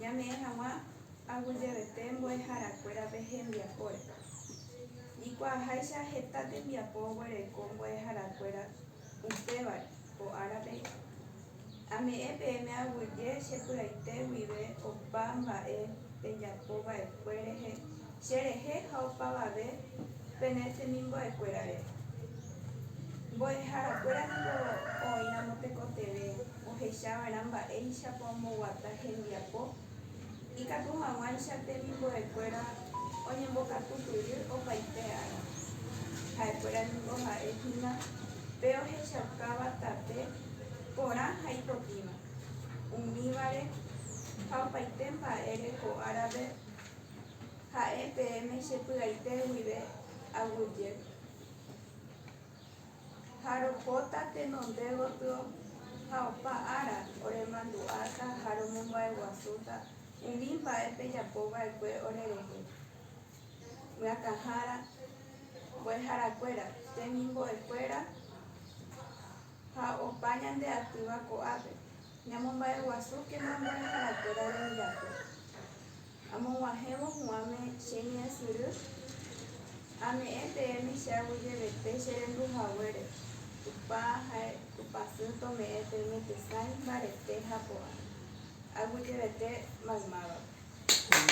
Ñame'ẽ hag̃ua aguyjevete mbo'eharakuérape hembiapóre. Ikuaaháicha heta tembiapo oguereko mbo'eharakuéra upévare ko árape. Ame'ẽ peẽme aguyje che py'aite guive opa mba'e pejapo va'ekue rehe. Che rehe ha opavave pene temimbo'ekuérare. Mbo'eharakuéra niko oĩramo tekotevẽ ohechava'erã mba'éichapa omboguata hembiapo, ikatu hag̃uáicha temimbo'ekuéra oñembokatupyry opaite ára. Ha'ekuéra niko ha'e hína pe ohechaukáva tape porã ha ipotĩva, umívare ha opaite mba'ére ko árape. Ha'e peẽme che py'aite guive aguyje. Ha ropóta tenonde gotyo ha opa ára oremandu'áta ha romomba'eguasúta umi mba'e pejapo va'ekue orerehe. Myakãhára, mbo'ehara kuéra, temimbo'e kuéra ha opa ñande atýva ko'ápe, ñamomba'eguasúkena mbo'ehara kuéra rembiapo. Amog̃uahẽvo huãme che ñe'ẽsyry, ame'ẽ peẽme che aguyjevete che rendu haguére, Tupã ha'e Tupã sy tome'ẽ peẽme tesãi, mbarete ha porã, aguyjevete maymávape.